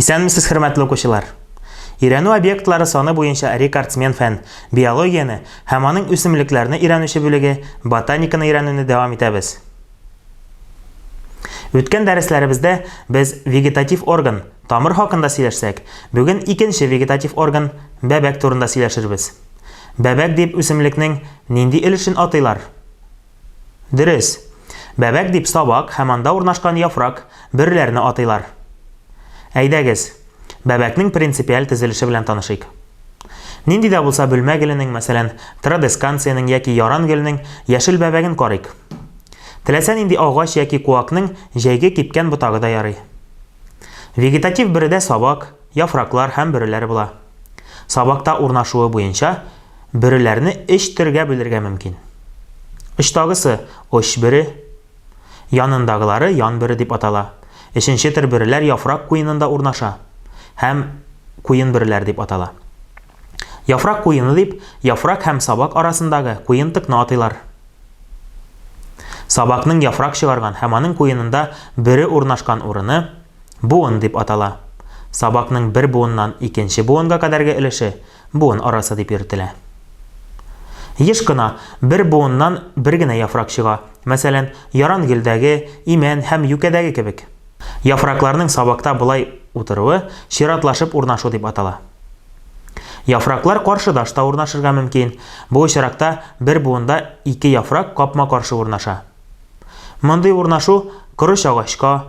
Исәнмесез, хөрмәтле укучылар! Өйрәнү объектлары саны буенча рекордсмен фән, биологияне һәм аның үсемлекләрне өйрәнүче бүлеге, ботаниканы өйрәнүне дәвам итәбез. Үткән дәресләребездә без вегетатив орган, тамыр хакында сөйләшсәк, бүген икенче вегетатив орган, бәбәк турында сөйләшербез. Бәбәк дип үсемлекнең нинди өлешен атыйлар? Дөрес. Бәбәк дип сабак һәм анда урнашкан яфрак, бөреләрне атыйлар. Әйдәгез, бәбәкнең принципиаль төзелеше белән танышыйк. Нинди дә булса бөлмә геленең, мәсәлән, традесканциянең яки яран геленең яшел бәбәген карыйк. Теләсә нинди агач яки куакның җәйге кипкән ботагы да ярый. Вегетатив бөредә сабак, яфраклар һәм бөреләр була. Сабакта урнашуы буенча, бөреләрне өч төргә бүлергә мөмкин. Очтагысы, оч бөре, янындагылары ян бөре дип атала. Өченче төр бөреләр яфрак куенында урнаша һәм куен бөреләр дип атала. Яфрак куены дип яфрак һәм сабак арасындагы куен тыкны атыйлар. Сабакның яфрак чыгарган һәм аның куенында бөре урнашкан урыны буын дип атала. Сабакның бер буыннан икенче буынга кадәрге өлеше Буын арасы дип йөртелә. Еш кына бер буыннан бер генә яфрак чыга, мәсәлән, ярангөлдәге, имән һәм юкәдәге кебек. Яфракларның сабакта болай утыруы чиратлашып урнашу дип атала. Яфраклар каршыдаш та урнашырга мөмкин, бу очракта бер буында ике яфрак капма-каршы урнаша. Мондый урнашу корыч агачка,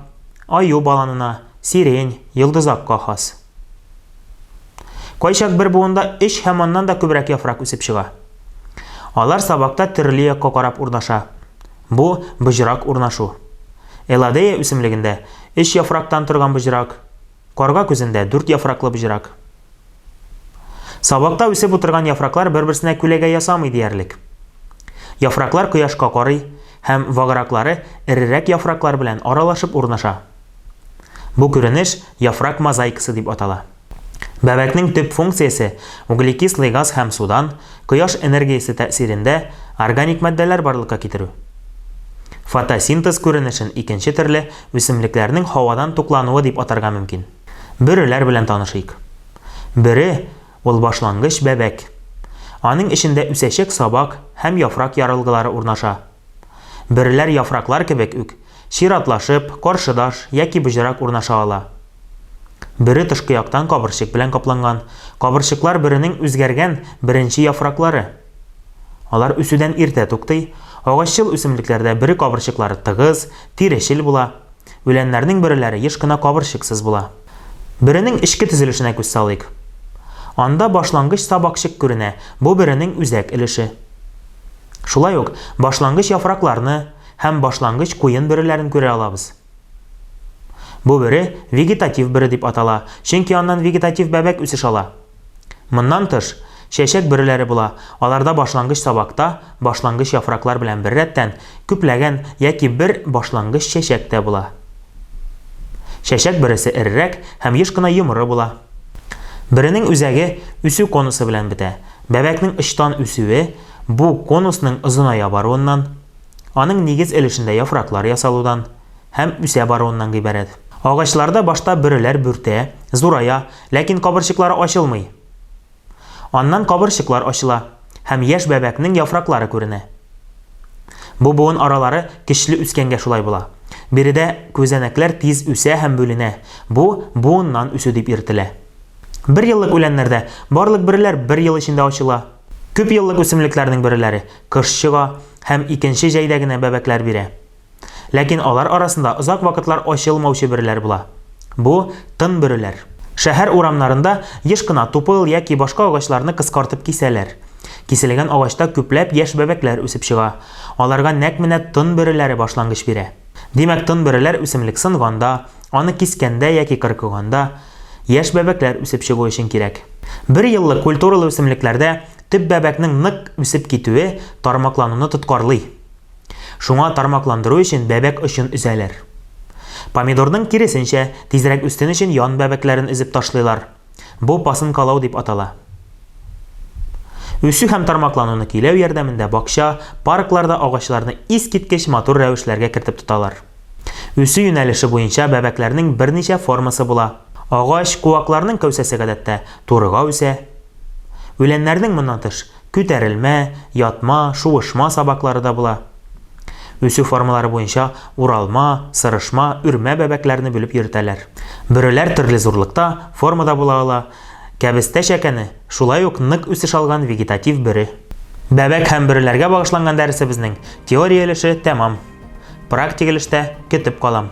аю баланына, сирень, йолдызакка хас. Кайчак бер буында өч һәм аннан да күбрәк яфрак үсеп чыга. Алар сабакта төрле якка карап урнаша. Бу, боҗрак урнашу. Элладея үсемлегендә өч яфрактан торган боҗрак, карга күзендә дүрт яфраклы боҗрак. Сабакта үсеп утырган яфраклар бер-берсенә күләгә ясамый диярлек. Яфраклар кояшка карый һәм ваграклары эрерәк яфраклар белән аралашып урнаша. Бу күренеш яфрак мозаикасы дип атала. Бәбәкнең төп функциясе, углекислый газ һәм судан, кояш энергиясе тәэсирендә, органик матдәләр барлыкка китерү. Фотосинтез күренешен икенче төрле үсемлекләрнең һавадан туклануы дип атарга мөмкин. Бөреләр белән танышыйк. Бөре, Ул башлангыч бәбәк. Аның эчендә үсәчәк сабак һәм яфрак ярылгылары урнаша. Бөреләр яфраклар кебек үк, чиратлашып, каршыдаш яки боҗрак урнаша ала. Бөре тышкы яктан кабырчык белән капланган, кабырчыклар бөренең үзгәргән беренче яфраклары. Алар үсүдән иртә туктый, агаччыл үсемлекләрдә бөре кабырчыклары тыгыз, тирешел була, үләннәрнең бөреләре еш кына кабырчыксыз була. Бөренең эчке төзелешенә күз салыйк. Анда башлангыч сабакчык күренә, бу бөренең үзәк өлеше. Шулай ук башлангыч яфракларны һәм башлангыч куен бөреләрен күрә алабыз. Бу бөре вегетатив бөре дип атала, чөнки аннан вегетатив бәбәк үсеш ала. Моннан тыш, чәчәк бөреләре була, аларда башлангыч сабакта, башлангыч яфраклар белән беррәттән, күпләгән яки бер башлангыч чәчәк тә була. Чәчәк бөресе эрерәк һәм еш кына йомры була. Бөренең үзәге үсү конусы белән бетә. Бәбәкнең очтан үсүе бу конусның озыная баруыннан, аның нигез өлешендә яфраклар ясалудан, һәм үсә баруыннан гыйбарәт. Агачларда башта бөреләр бүртә, зурая, ләкин кабырчыклары ачылмый. Аннан кабырчыклар ачыла һәм яшь бәбәкнең яфраклары күренә. Бу буын аралары көчле үскәнгә шулай була. Биредә күзәнәкләр тиз үсә һәм бүленә, бу буыннан үсү дип йөртелә. Бер еллык үләннәрдә барлык бөреләр бер ел эчендә ачыла. Күп еллык үсемлекләрнең бөреләре кыш чыга һәм икенче җәйдә генә бәбәкләр бирә. Ләкин алар арасында озак вакытлар ачылмаучы бөреләр була. Бу, тын бөреләр. Шәһәр урамнарында еш кына тупыл яки башка агачларны кыскартып кисәләр. Киселгән агачта күпләп яшь бәбәкләр үсеп чыга. Аларга нәкъ менә тын бөреләре башлангыч бирә. Димәк, тын бөреләр үсемлек сынганда, аны кискәндә яки кыркыганда, яшь бәбәкләр үсеп чыгу өчен кирәк. Бер еллык культуралы үсемлекләрдә төп бәбәкнең нык үсеп китүе тармаклануны тоткарлый. Шуңа тармакландыру өчен бәбәк очын өзәләр. Помидорның киресенчә, тизрәк үссен өчен ян бәбәкләрен өзеп ташлыйлар. Бу пасынкалау дип атала. Үсү һәм тармаклануны көйләү ярдәмендә бакча, паркларда агачларны искиткеч матур рәвешләргә кертеп тоталар. Үсү юнәлеше буенча бәбәкләрнең берничә формасы була. Агач, куакларның кәүсәсе гадәттә турыга үсә. Үләннәрнең, моннан тыш, Күтәрелмә, ятма, шуышма сабаклары да була. Үсү формалары буенча уралма, сырышма, үрмә бәбәкләрне бүлеп йөртәләр. Бөреләр төрле зурлыкта, формада була ала. Кәбестә чәкәне, шулай ук нык үсеш алган вегетатив бөре. Бәбәк һәм бөреләргә багышланган дәресебезнең теория өлеше тәмам. Практик өлештә көтеп калам.